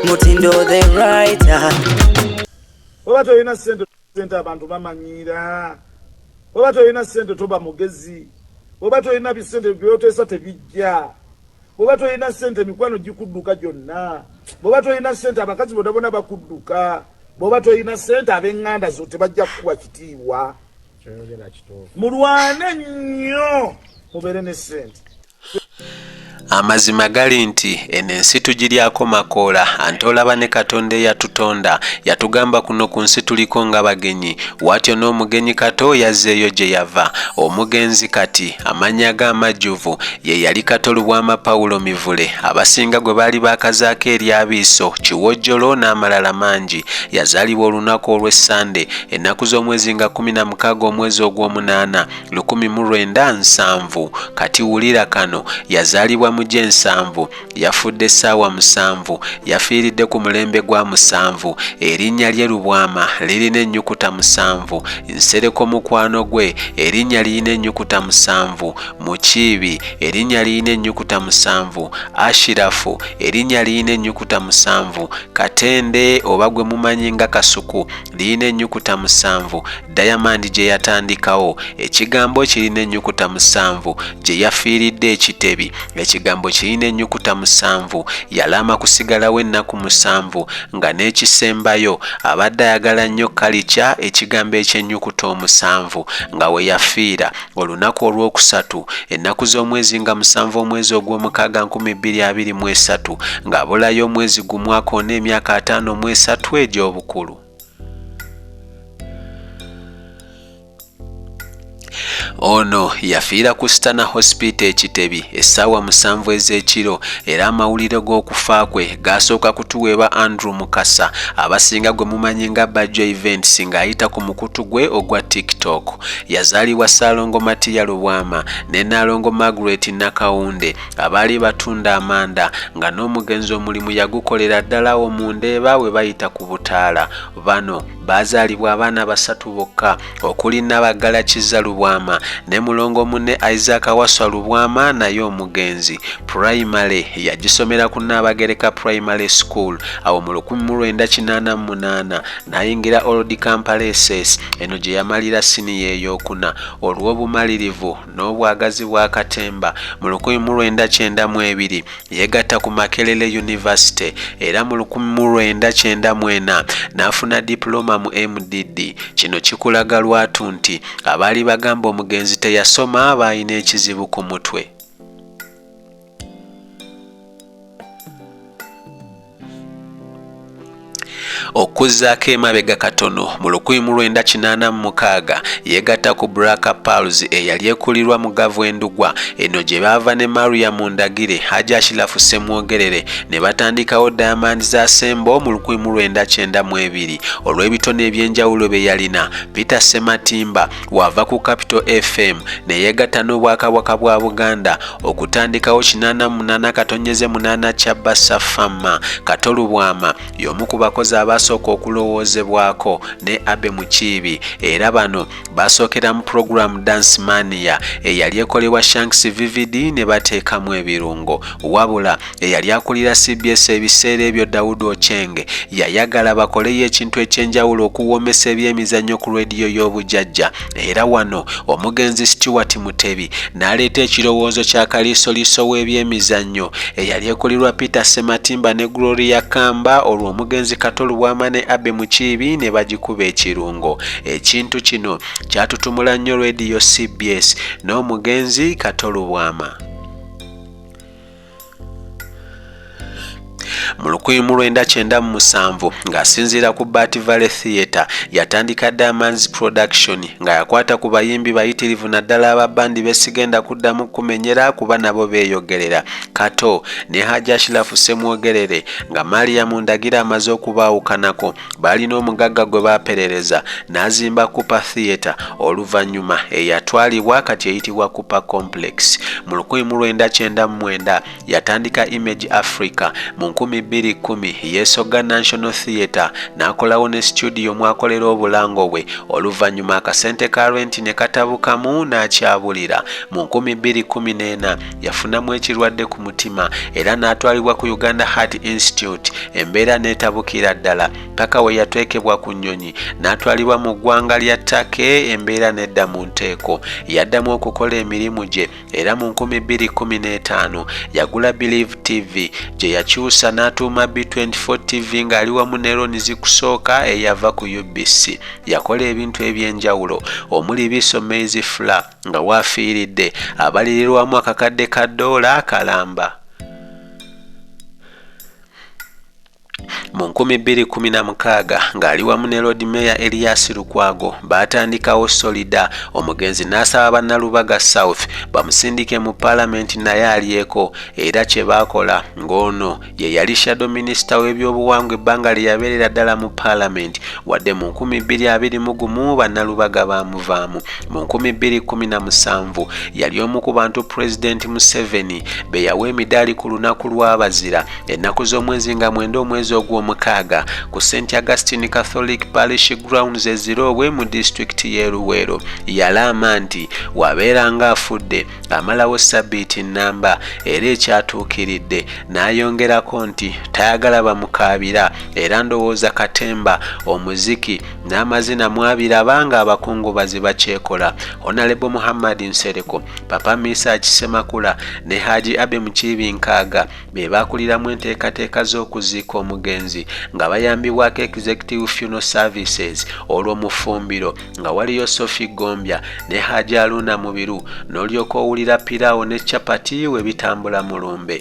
mutindo the writer oba tolina sente sente abantu bamanyiira oba tolina sente toba mugezi oba tolina bisente byoteesa tebijja bwoba tolina sente emikwano gikudduka gyonna bwoba tolina sente abakazi bona bona bakudduka bwoba tolina sente abenganda zo tebajja kukuwa kitiibwa mulwane nnyo mubeere ne sente Amazima gali nti eno ensi tugiryako makoola ante olaba ne Katonda eyatutonda yatugamba kuno ku nsi tuliko nga bagenyi watyo n'omugenyi Kato yazzeeyo gye yava omugenzi kati amannya ge amajjuvu ye yali Kato Lubwama Paulo Mivule abasinga gwe baali baakazaako eryabiiso kiwojjolo n'amalala mangi yazaalibwa olunaku olw'essande ennaku z'omwezi nga kumi na mukaaga omwezi ogw'omunaana lukumi mu lwenda nsanvu kati wulira kano yazaalibwa mu gy'ensanvu yafudde ssaawa musanvu yafiiridde ku mulembe gwa musanvu erinnya lye lubwama lirina ennyukuta musanvu nsereko mukwano gwe erinnya lirina ennyukuta musanvu mukiibi erinnya lirina ennyukuta musanvu ashirafu erinnya lirina ennyukuta musanvu katende oba gwe mumanyi nga kasuku lirina ennyukuta musanvu Diamond gye yatandikawo. Ekigambo kirina ennyukuta musanvu gye yafiiridde Ekitebi. Ekigambo kirina ennyukuta musanvu Yalaama kusigalawo ennaku musanvu nga n'ekisembayo abadde ayagala nnyo kalica ekigambo eky'ennyukuta omusanvu nga we yafiira. olunaku olwokusatu ennaku z'omwezi nga musanvu omwezi ogw'omukaaga 2023 ng'abulayo omwezi gumu akoona emyaka ataano mu esatu egy'obukulu ono yafiira ku stana hospital ekitebi essaawa musanvu ez'ekiro era amawulire g'okufa kwe gaasooka kutuweeba andrew mukasa abasinga gwe mumanyi nga bajjo events ng'ayita ku mukutu gwe ogwa tiktok Yazaalibwa Ssaalongo Matiya Lubwama ne Nnaalongo Margaret Nakawunde abaali batunda amanda nga n'omugenzi omulimu yagukolera ddala awo mu Ndeeba we bayita ku Butaala. Bano baazaalibwa abaana basatu bokka okuli Nabaggala Kizza Lubwama ne mulongo munne Isaac Waswa Lubwama naye omugenzi pulayimale yagisomera ku Nnaabagereka Primary School awo mu lukumi mu lwenda kinaana mu munaana N'ayingira Old Kampala SS, eno gye yamalira siniya ey'okuna. Olw'obumalirivu n'obwagazi bwa katemba, mu lukumi mu lwenda kyenda mu ebiri yeegatta ku Makerere University era mu lukumi mu lwenda kyenda mu ena n'afuna Dipulooma mu MDD. Kino kikulaga lwatu nti abaali bagamba omugenzi teyasoma baalina ekizibu ku mutwe. okuzzaako emabega katono mu lukumi mu lwenda kinaana mu mukaaga yeegatta ku braka pals eyali ekulirwa mu gavu endugwa eno gye baava ne maria mu ndagire haji ashilafu ssemwogerere ne batandikawo diamond za sembo mu lukumi mu lwenda kyenda mu ebiri olw'ebitone eby'enjawulo bye yalina peter sematimba wava ku capital fm neyegatta n'obwakabwaka bwa buganda okutandikawo 88 katonyeze 8 kya bassa fama kato lubwama y'omu ku bakozi abaasooka okulowoozebwako ne abe mukiibi era bano baasookera mu pulogulaamu dance mania eyali ekolebwa shanks vvd ne bateekamu ebirungo wabula eyali akulira cbs ebiseera ebyo dawudi ochenge yayagala bakoleyo ekintu ekyenjawulo okuwoomesa ebyemizannyo ku rediyo y'obujajja era wano omugenzi stewart mutebi n'aleeta ekirowoozo kya kaliisoliiso w'ebyemizannyo eyali ekulirwa peter sematimba ne gloria kamba olwo omugenzi kato lubwama ne abe mukiibi ne bagikuba ekirungo ekintu kino kyatutumula nnyo rediyo cbs n'omugenzi kato lubwama mu lukumi mu lwenda kyenda mu musanvu ng'asinziira ku bat valley theatre yatandika diamonds production nga yakwata ku bayimbi bayitirivu naddala aba bandi besigenda kuddamu kumenyera kuba nabo beeyogerera kato ne hajashilafu semwogerere nga maria mundagira amaze okubaawukanako baalina omugagga gwe baaperereza n'azimba Cooper Theatre oluvannyuma eyatwalibwa kati eyitibwa Cooper Complex. Mu lukumi mu lwenda kyenda mu mwenda yatandika Image Africa, mu nkumi bbiri kkumi yeesogga National Theatre n'akolawo ne situdiyo mw'akolera obulango bwe oluvannyuma akasente ka renti ne katabukamu n'akyabulira. Mu nkumi bbiri kkumi n'ena yafunamu ekirwadde ku mutima era n'atwalibwa ku Uganda Heart Institute embeera n'etabukira ddala. Ttaka we yateekebwa ku nnyonyi n'atwalibwa mu ggwanga lya Turkey embeera n'edda mu nteeko. Yaddamu okukola emirimu gye era mu 2015 yagula Believe TV gye yakyusa n'atuuma B24 TV ng'ali wamu ne Ronnie Zikusooka eyava ku UBC. Yakola ebintu eby'enjawulo omuli Biso Maize Flour nga waafiiridde abalirirwamu akakadde ka ddoola akalamba. Mu 2016 ng'ali wamu ne Lord Mayor Elias Lukwago baatandikawo Solida omugenzi n'asaba Bannalubaga South bamusindike mu Palamenti naye alyeko era kye baakola ng'ono ye yali shadow minisita w'ebyobuwangwa ebbanga lye yabeerera ddala mu Palamenti wadde mu 2021 Bannalubaga baamuvaamu. Mu 2017 yali omu ku bantu Pulezidenti Museveni be yawa emidaali ku lunaku lw'Abazira ennaku z'omwezi nga mwenda omwezi ogw'omukaaga ku st augustine catholic parish grounds eziroobwe mu disitulikiti y'e luweero yalaama nti wabeera nga afudde amalawo sabbiiti nnamba era ekyatuukiridde n'ayongerako nti tayagala bamukaabira era ndowooza katemba omuziki n'amazina mwabiraba nga abakungubazi bakyekola honalebo muhammad nsereko papa misa akisemakula ne haji abe mukiibi nkaaga be baakuliramu enteekateeka z'okuziika omugenzi nga bayambibwako Executive Funeral Services olwo mu ffumbiro nga waliyo Sophie Gombya ne Haji Aluna Mubiru n'olyoka owulira piraawo ne chapati we bitambula mu lumbe.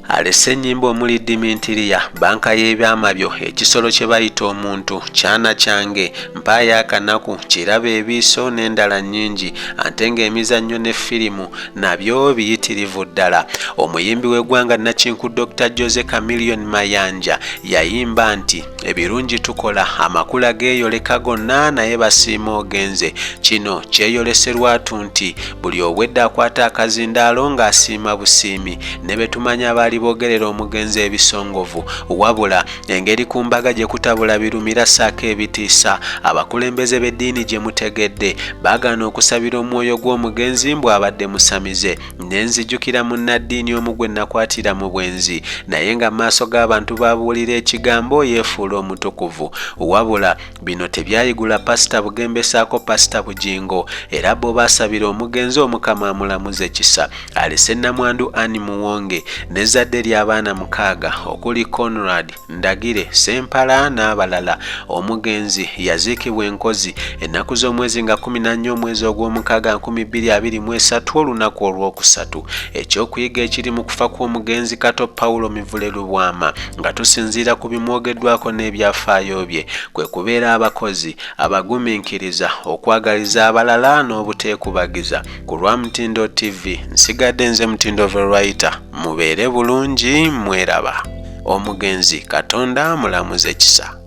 alese ennyimba omuli dimintiriya banka y'ebyama byo ekisolo kye bayita omuntu kyana kyange mpaayo akanaku kiraba ebiiso n'endala nnyingi ante ng'emizannyo ne firimu nabyo biyitirivu ddala omuyimbi w'eggwanga nakinku dr jose camilion mayanja yayimba nti ebirungi tukola amakula geeyoleka gonna naye basiima ogenze kino kyeyoleserwatu nti buli obwedda akwata akazindaalo ng'asiima busiimi ne be tumanya abaali boogerera omugenzi ebisongovu wabula engeri ku mbaga gye kutabula birumira ssaako ebitiisa abakulembeze b'eddiini gye mutegedde baagaana okusabira omwoyo gw'omugenzi mbu abadde musamize ne nzijukira munnaddiini omu gwe nakwatira mu bwenzi naye nga maaso g'abantu baabuulira ekigambo yeefuula omutukuvu wabula Bino tebyayigula Pasita Bugembe saako Pasita Bugingo era bo baasabira omugenzi Omukama amulamuze kisa. Alese Nnamwandu Anne Muwonge n'ezzadde ly'abaana mukaaga okuli Conrad, Ndagire, Ssempala n'abalala. Omugenzi yaziikibwa e Nkozi ennaku z'omwezi nga kkumi na nnya omwezi ogw'omukaaga nkumi bbiri abiri mu esatu olunaku olwokusatu. Ekyokuyiga ekiri mu kufa kw'omugenzi Kato Paulo Mivule Lubwama Nga tusinziira ku bimwogeddwako n'ebyafaayo bye, kwe kubeera abakozi, abaguminkiriza, okwagaliza abalala n'obuteekubagiza. Ku lwa Mutindo TV, nsigadde nze Mutindo Veroita. Mubeere bulungi, mweraba. Omugenzi Katonda amulamuze kisa.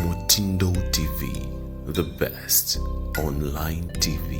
Mutindo TV, the best online TV.